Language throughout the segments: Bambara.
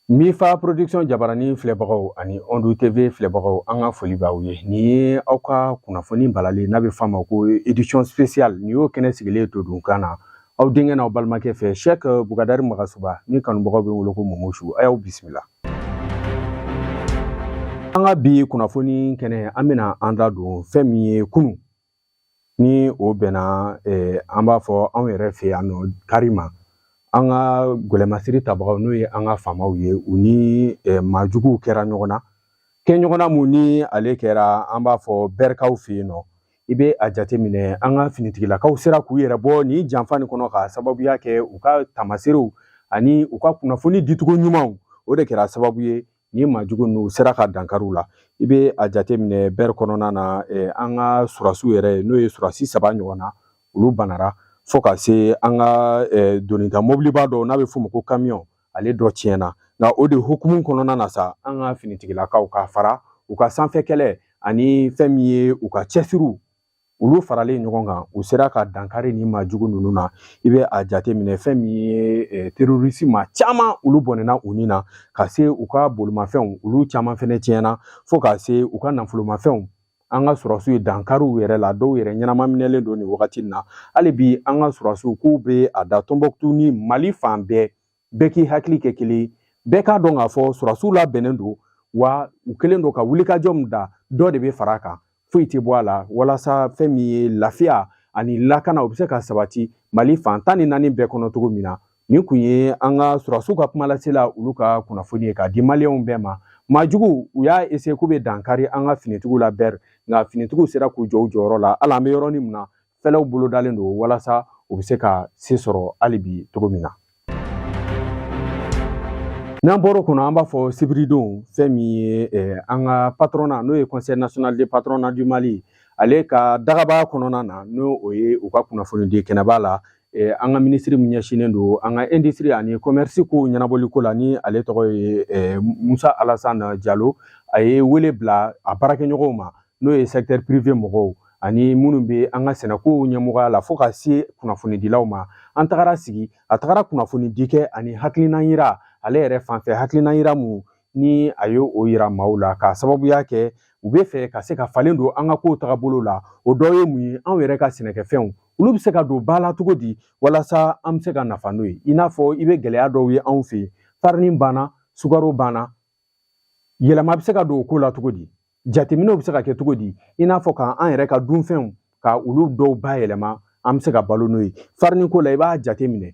Mifa production jabarani filɛbagaw ani ɔndu TV filɛbagaw an ka foli b'aw ye nin ye aw ka kunnafoni balalen n'a bɛ f'a ma ko édition spéciale nin y'o kɛnɛ sigilen to don kan na aw denkɛ n'aw balimakɛ fɛ sɛk bukadari magasuba ni kanubagaw bɛ wele ko momosu a y'aw bisimila an ka bi kunnafoni kɛnɛ an bɛna an da don fɛn min ye kunu ni o bɛnna eh, an b'a fɔ anw yɛrɛ fɛ yan nɔ kari ma an ka gɛlɛmasiri tabagaw n'o ye an ka faamaw ye u ni eh, maajuguw kɛra ɲɔgɔn na kɛ ɲɔgɔnna mun ni ale kɛra an b'a fɔ bɛrikaw fɛ yen nɔ i bɛ a jateminɛ an ka finitigilakaw sera k'u yɛrɛ bɔ nin janfa nin kɔnɔ ka sababuya kɛ u ka tamaseerew ani u ka kunnafoni dicogo ɲumanw o de kɛra sababu ye ni maajugu ninnu sera ka dankari u la i bɛ a jateminɛ bɛri kɔnɔna na eh, an ka surasiw yɛrɛ n'o ye surasi saba ɲɔgɔn na olu banara fo ka se an ka eh, donita mɔbiliba dɔ n'a bɛ f'o ma ko kamiyɔn ale dɔ tiɲɛna nka o de hukumu kɔnɔna na sa an ka finitigilakaw ka fara u ka sanfɛ kɛlɛ ani fɛn min ye u ka cɛsiriw olu faralen ɲɔgɔn kan u sera ka dankari ni maajugu ninnu na i bɛ a jateminɛ fɛn min ye eh, terorisi maa caman olu bɔnɛna u ni na ka se u ka bolimafɛnw olu caman fɛnɛ tiɲɛna fo ka se u ka nafolomafɛnw an ka surasiw ye dankari u yɛrɛ la dɔw yɛrɛ ɲɛnama minɛlen don nin wagati na hali bi an ka surasiw k'u bɛ a da tɔnbɔkutu ni mali fan bɛɛ bɛɛ k'i hakili kɛ kelen bɛɛ k'a dɔn k'a fɔ surasiw labɛnnen don wa u kɛlen don ka wulikajɔ min da dɔ de bɛ fara a kan foyi tɛ bɔ a la walasa fɛn min ye lafiya ani lakana o bɛ se ka sabati mali fan tan ni naani bɛɛ kɔnɔ cogo min na nin kun ye an ka surasiw ka kumalasela olu ka kunnafoni ye k'a di maliyɛnw bɛɛ ma maajuguw y'a essayer k'u bɛ dankari an ka finitigiw la bɛri nka finitigiw sera k'u jɔ u jɔyɔrɔ la hali an bɛ yɔrɔnin min na fɛlɛw bolodalen don walasa u bɛ se ka se sɔrɔ hali bi cogo min na n'an bɔr'o kɔnɔ an b'a fɔ sibiridon fɛn min ye eh, an ka patronat n'o ye conseil national de patronat du mali ale ka dagaba kɔnɔna na n'o o ye u ka kunnafonidi kɛnɛba la Eh, an ka minisiri min ɲɛsinnen don an ka industrie ani commerce ko ɲɛnabɔli ko la ni ale tɔgɔ ye eh, musa alasan jalo a ye wele bila a baarakɛɲɔgɔnw ma n'o ye secteur privé mɔgɔw ani minnu bɛ an ka sɛnɛkow ɲɛmɔgɔya la fo ka se kunnafonidilaw ma an tagara sigi a tagara kunnafonidi kɛ ani hakilinan yira ale yɛrɛ fanfɛ hakilinan yira mun ni a ye o yira maaw la k'a sababuya kɛ u bɛ fɛ ka se ka falen don an ka kow tagabolo la o dɔ ye mun ye anw yɛrɛ ka sɛnɛkɛfɛnw olu bɛ se ka don ba la cogo di walasa an bɛ se ka nafa n'o ye i n'a fɔ i bɛ gɛlɛya dɔw ye anw fɛ yen farini banna sukaro banna yɛlɛma bɛ se ka don o ko la cogo di jateminɛw bɛ se ka kɛ cogo di i n'a fɔ k'an yɛrɛ ka dunfɛnw ka olu dɔw bayɛlɛma an bɛ se ka balo n'o ye farini ko la i b'a jateminɛ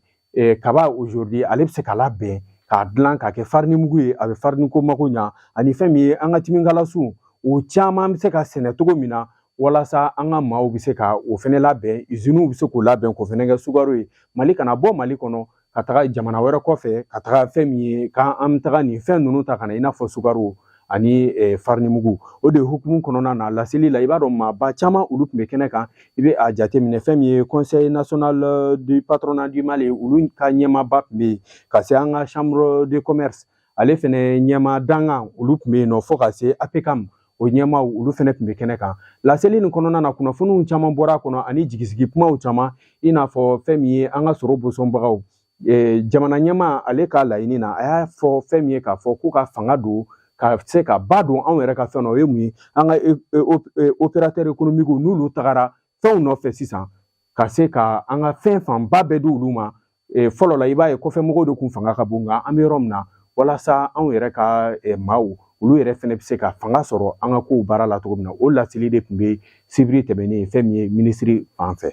kaba aujourd'hui ale bɛ se ka labɛn k'a dilan k'a kɛ farini mugu ye a bɛ farini ko mako ɲa ani fɛn min ye an ka timikala suw o caman bɛ se ka sɛnɛ cogo min na walasa an ka maaw bɛ se ka o fɛnɛ labɛn iziniw bɛ se k'o labɛn k'o fɛnɛ kɛ sukaro ye mali kana bɔ mali kɔnɔ ka taga jamana wɛrɛ kɔfɛ ka taga fɛn min ye k'an bɛ taga nin fɛn ninnu ta ka na i n'a fɔ sukaro ani farinimugu o de hukumu kɔnɔna na laseli la i b'a dɔn maaba caman olu tun bɛ kɛnɛ kan i bɛ a jateminɛ fɛn min ye conseil national du patronat du mali olu ka ɲɛmaaba tun bɛ yen ka se an ka chambre de commerce ale fɛnɛ ɲɛmaa dankan olu tun bɛ yen nɔ fo ka se apcam o ɲɛmaaw olu fɛnɛ tun bɛ kɛnɛ kan laseli nin kɔnɔna na kunnafoniw caman bɔra a kɔnɔ ani jigisigi kumaw caman i n'a fɔ fɛn min ye an ka sɔrɔ bosɔnbagaw eh, jamana ɲɛmaa ale ka laɲini na a y'a fɔ fɛn min ye k'a fɔ k'u ka fanga don ka se ka ba don anw yɛrɛ ka fɛn na o ye mun ye an ka e, e, e, opérateur économique n'olu tagara fɛnw nɔfɛ sisan ka se ka an ka fɛn fanba bɛɛ di olu ma fɔlɔ la i b'a ye kɔfɛ mɔgɔw de tun fanga ka bon nka an bɛ yɔrɔ min na walasa anw yɛrɛ ka maaw olu yɛrɛ fɛnɛ bɛ se ka fanga sɔrɔ an ka kow baara la cogo min na o laseli de tun bɛ sibiri tɛmɛnen fɛn min ye minisiri fan fɛ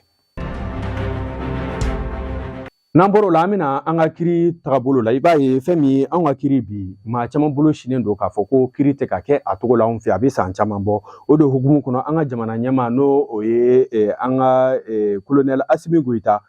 n'an bɔr'o la an bɛ na an ka kiri tagabolo la i b'a ye fɛn min ye anw ka kiri bi maa caman bolo sinnen don k'a fɔ ko kiri tɛ ka kɛ a cogo la anw fɛ a bɛ san caman bɔ o de hukumu kɔnɔ an ka jamana ɲɛmaa n'o o ye an ka kolonɛli asimi goyita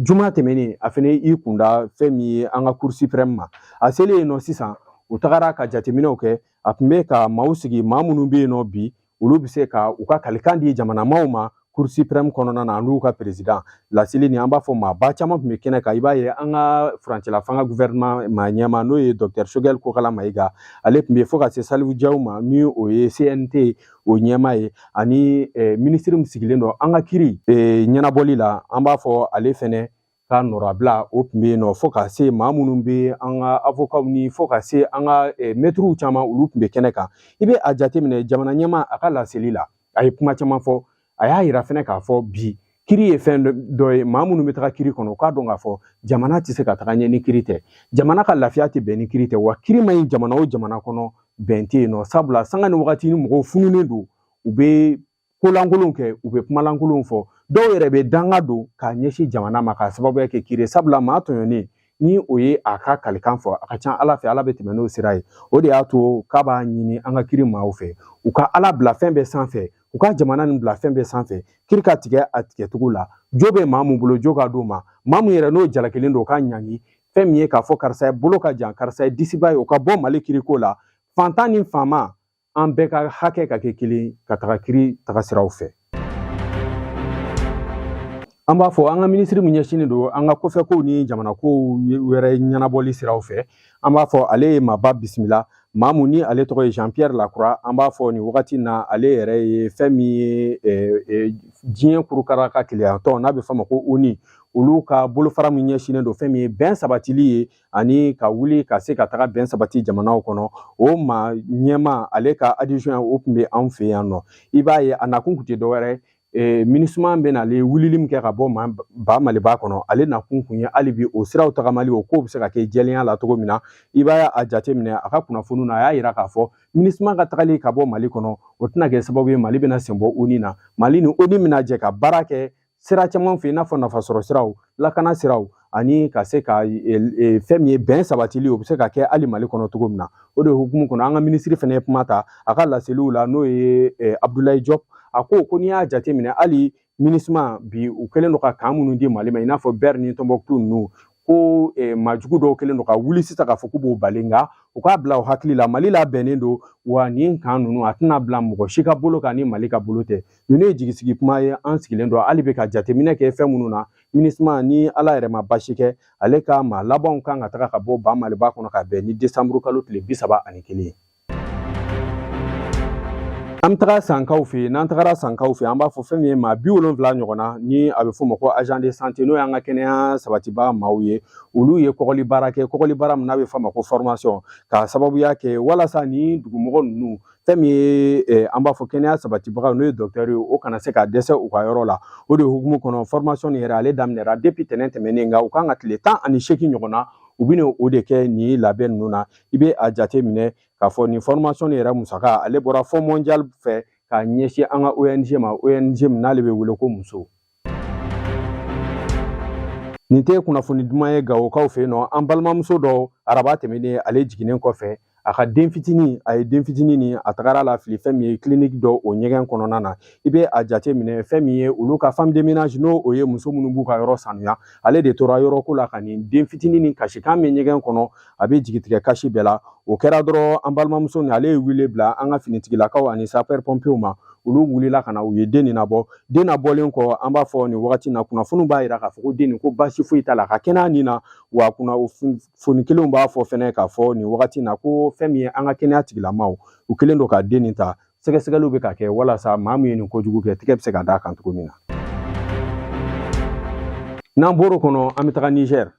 juma tɛmɛnen a fɛnɛ i kunda fɛn min ye an ka cour suprême ma a selen yen nɔ sisan u tagara ka jateminɛw kɛ a tun bɛ ka maaw sigi maa minnu bɛ yen nɔ bi olu bɛ se ka u ka kalikan di jamanamaaw ma cour suprême kɔnɔna na an'u ka perezidan laseli ni an b'a fɔ maaba caman tun bɛ kɛnɛ kan i b'a ye an ka furancɛla fanga guvɛrɛnman ma ɲɛmaa n'o ye dɔkitɛri sogɛli kokala mayiga ale tun bɛ fo ka se salifu jaw ma ni o ye cnt o ɲɛmaa ye ani minisiri min sigilen don an ka kiri ɲɛnabɔli la an b'a fɔ ale fɛnɛ ka nɔrabila o tun bɛ yen nɔ fo ka se maa minnu bɛ an ka avokaw ni fo ka se an ka mɛtiriw caman olu tun bɛ kɛnɛ kan i bɛ a jateminɛ jamana ɲɛmaa a ka laseli la a ye kuma caman fɔ a y'a yira fɛnɛ k'a fɔ bi kiri ye fɛn dɔ ye maa minnu bɛ taga kiri kɔnɔ u k'a dɔn k'a fɔ jamana tɛ se ka taga ɲɛ ni kiri tɛ jamana ka lafiya tɛ bɛn ni kiri tɛ wa kiri ma ɲi jamana o jamana kɔnɔ bɛn tɛ yen nɔ sabula sanga ni wagati ni mɔgɔw fununen don u bɛ kolankolonw kɛ u bɛ kumalankolonw fɔ dɔw yɛrɛ bɛ danga don k'a ɲɛsin jamana ma k'a sababuya kɛ kiri sabula maa tɔɲɔnen ni o ye a ka kalikan fɔ a ka ca ala fɛ ala bɛ tɛmɛ n'o sira ye o de y'a to k'a b'a ɲini an ka kiri maaw fɛ u ka ala bila fɛn bɛɛ sanfɛ u ka jamana nin bila fɛn bɛɛ sanfɛ kiri ka tigɛ a tigɛcogo la jo bɛ maa mun bolo jo ka d'o ma maa mun yɛrɛ n'o jalakilen don o ka ɲangi fɛn min ye k'a fɔ karisa ye bolo ka jan karisa ye disiba ye o ka bɔ mali kiriko la fantan ni faama an bɛɛ ka hakɛ ka kɛ kelen ka taga kiri taga siraw fɛ an b'a fɔ an ka minisiri min ɲɛsinnen don an ka kɔfɛkow ni jamanakow wɛrɛ ɲɛnabɔli siraw fɛ An b'a fɔ ale ye maaba bisimila maa mun ni ale tɔgɔ ye jean pierre lacroix an b'a fɔ nin wagati na ale yɛrɛ ye fɛn min ye diɲɛ kurukara ka kelenyatɔn n'a bɛ f'a ma ko oni olu ka bolofara min ɲɛsinnen don fɛn min ye bɛn sabatili ye ani ka wuli ka se ka taga bɛn sabati jamanaw kɔnɔ o maa ɲɛmaa ale ka adjoint o tun bɛ anw fɛ yan nɔ i b'a ye a nakun tun tɛ dɔwɛrɛ ee minisima bɛn'ale wulili min kɛ ka bɔ ba maliba kɔnɔ ale nakun kun ye hali bi o siraw tagamali o kow bɛ se ka kɛ jɛlenya la cogo min na i b'a a jateminɛ a ka kunnafoniw na a y'a yira k'a fɔ minisima ka tagali ka bɔ mali kɔnɔ o tɛna kɛ sababu ye mali bɛna sen bɔ oni na mali ni oni bɛna jɛ ka baara kɛ sira caman fɛ i n'a fɔ nafasɔrɔ siraw lakana siraw ani ka se ka fɛn min ye bɛn sabatili o bɛ se ka kɛ hali mali kɔnɔ cogo min na o de hukumu kɔnɔ an ka minisiri fana ye kuma ta a ka laseliw la n'o ye abudulayi jɔpu a ko ko n'i y'a jateminɛ hali minisima bi u kɛlen don ka kan minnu di mali ma i n'a fɔ bɛri ni tɔnbɔkutu ninnu ko maajugu dɔw kɛlen don ka wuli sisan k'a fɔ k'u b'o bali nka u k'a bila u hakili la mali labɛnnen don wa nin kan ninnu a tɛna bila mɔgɔ si ka bolo kan ni mali ka bolo tɛ ninnu ye jigisigi kuma ye an sigilen don hali bi ka jateminɛ kɛ fɛn minnu na minisma ni ala yɛrɛ ma baasi kɛ ale ka maa labanw kan ka taga ka bɔ ba maliba kɔnɔ ka bɛn ni desanburu kalo tile bi saba ani kelen ye an bɛ taga sankaw fɛ yen n'an tagara sankaw fɛ an b'a fɔ fɛn min ye maa bi wolonwula ɲɔgɔn na ni a bɛ f'o ma ko agent de santé n'o y'an ka kɛnɛya sabatibaga maaw ye olu ye kɔgɔli baara kɛ kɔgɔli baara min n'a bɛ f'a ma ko formation k'a sababuya kɛ walasa ni dugumɔgɔ ninnu fɛn min ye eh, an b'a fɔ kɛnɛya sabatibaga n'o ye dɔktɛri ye o kana se ka dɛsɛ u ka yɔrɔ la o de hukumu kɔnɔ fɔrimasɔn nin yɛrɛ ale daminɛra depi tɛnɛn tɛmɛnen nka u kan ka tile tan ani seegin ɲɔgɔn na u bɛna o de kɛ nin labɛn ninnu na i bɛ a jate minɛ k'a fɔ nin fɔrimasɔn nin yɛrɛ musaka ale bɔra fonds mondial fɛ k'a ɲɛsin an ka ong ma ong min n'ale bɛ wele ko muso nin tɛ kunnafoni duman ye gawokaw fɛ yen nɔ an balimamuso dɔ araba tɛmɛnen ale jiginnen kɔfɛ a ka den fitinin a ye den fitinin ni a tagara lafili fɛn min ye kiliniki dɔ o ɲɛgɛn kɔnɔna na i bɛ a jate minɛ fɛn min ye olu ka femme de ménage n'o o ye muso minnu b'u ka yɔrɔ sanuya ale de tora yɔrɔ ko la ka nin den fitinin ni kasikan mɛn ɲɛgɛn kɔnɔ a bɛ jigitigɛ kasi bɛɛ la o kɛra dɔrɔn an balimamuso ni ale ye wele bila an ka finitigilakaw ani sapeurs pompiers ma olu wulila ka na u ye den nin nabɔ den nabɔlen kɔ an b'a fɔ nin wagati na kunnafoniw b'a jira k'a fɔ ko den nin ko baasi foyi t'a la a ka kɛnɛya nin na wa kunnafoni kelenw b'a fɔ fɛnɛ k'a fɔ nin wagati na ko fɛn min ye an ka kɛnɛya tigilamaw u kɛlen don ka den nin ta sɛgɛsɛgɛliw bɛ ka kɛ walasa maa min ye nin kojugu kɛ tigɛ bɛ se ka d'a kan cogo min na n'an bɔr'o kɔnɔ an bɛ taga nizɛri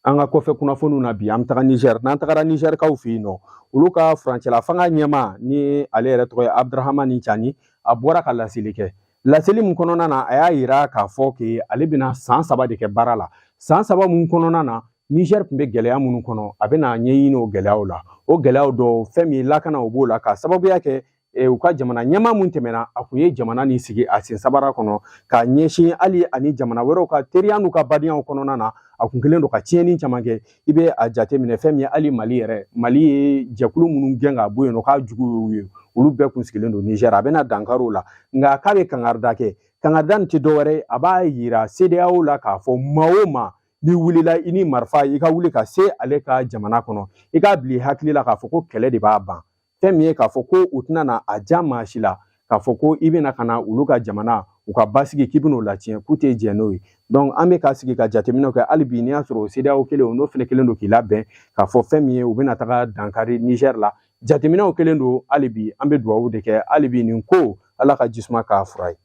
an ka kɔfɛ kunnafoniw na bi an bɛ taga nizɛri n'an tagara nizɛrikaw fɛ yen nɔ olu ka furancɛla fanga ɲɛmaa ni ale yɛrɛ tɔgɔ ye abudurahamani cani a bɔra ka laseli kɛ laseli min kɔnɔna na a y'a yira k'a fɔ ke ale bɛna san saba de kɛ baara la san saba min kɔnɔna na nizɛri tun bɛ gɛlɛya minnu kɔnɔ a bɛna ɲɛɲini o gɛlɛyaw la o gɛlɛyaw dɔ fɛn min ye lakana o b'o la k'a sababuya kɛ e, u ka jamana ɲɛmaa min tɛmɛna a kun ye jamana ni sigi a sen sabara kɔnɔ ka ɲɛsin hali ani jamana wɛrɛw ka teriya n'u ka badenyaw kɔnɔna na a kun kɛlen don ka tiɲɛni caman kɛ i bɛ a jate minɛ fɛn min ye hali mali yɛrɛ mali ye jɛkulu minnu gɛn ka bɔ yen nɔ k'a jugu y'u ye olu bɛɛ kun sigilen don nizɛri a bɛna dankari u la nka k'a bɛ kangarida kɛ kangarida nin tɛ dɔwɛrɛ ye a b'a yira CEDEAO la k'a fɔ maa o maa n'i wulila i ni marifa i ka wuli ka se ale ka jamana kɔnɔ i k'a bila i hakili la k'a fɔ ko kɛlɛ de b'a ban fɛn min ye k'a fɔ ko u tɛna na a ja maa si la k'a fɔ ko i bɛna ka na olu ka jamana u ka basigi k'i bɛn'o latiɲɛ k'u tɛ jɛn n'o ye donc an bɛ ka sigi ka jateminɛw kɛ hali bi n'i y'a sɔrɔ CEDEAO kelen n'o fana kɛlen don k'i labɛn k'a fɔ fɛn min ye u bɛna taga dankari Niger la jateminɛw kɛlen don hali bi an bɛ dugawu de kɛ hali bi nin ko ala ka jisuma k'a fura ye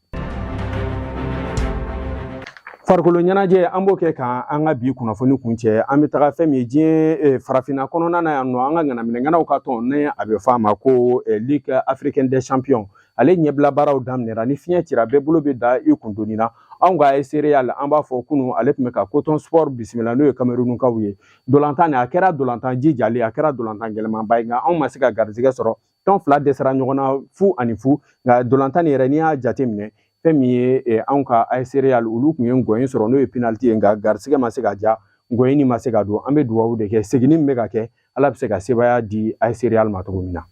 farikolo ɲɛnajɛ an b'o kɛ ka an ka bi kunnafoni kuncɛ an bɛ taga fɛn min ye diɲɛ eh, farafinna kɔnɔna na yan nɔ an ka ŋanaminɛŋanaw ka tɔn ni a bɛ fɔ a ma ko eh, ligue africaine des champions ale ɲɛbila baaraw daminɛra ni fiɲɛ cira bɛɛ bolo bɛ da i kundoni na anw ka AS Real an b'a fɔ kunu ale tun bɛ ka coton sport bisimila n'o ye kamerunkaw ye dolantan nin a kɛra dolantan jijalen a kɛra dolantan gɛlɛmanba ye nka anw ma se ka garijɛgɛ sɔrɔ tɔn fila dɛsɛra ɲɔgɔn na fu ani fu nka dolantan nin yɛrɛ n'i y'a jateminɛ fɛn min ye eh, anw ka AS Real olu tun ye ngɔyin sɔrɔ n'o ye penaliti ye nka garisɛgɛ ma se ka ja ngɔyin nin ma se ka don an bɛ dugawu de kɛ seginni min bɛ ka kɛ ala bɛ se ka sebaya di AS Real ma cogo min na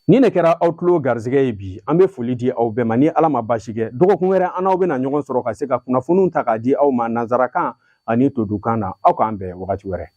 ni ne kɛra aw tulo garisɛgɛ ye bi an bɛ foli di aw bɛɛ ma ni ala ma baasi kɛ dɔgɔkun wɛrɛ an n'aw bɛna ɲɔgɔn sɔrɔ ka se ka kunnafoniw ta k'a di aw ma nansarakan ani todukan na aw k'an bɛn wagati wɛrɛ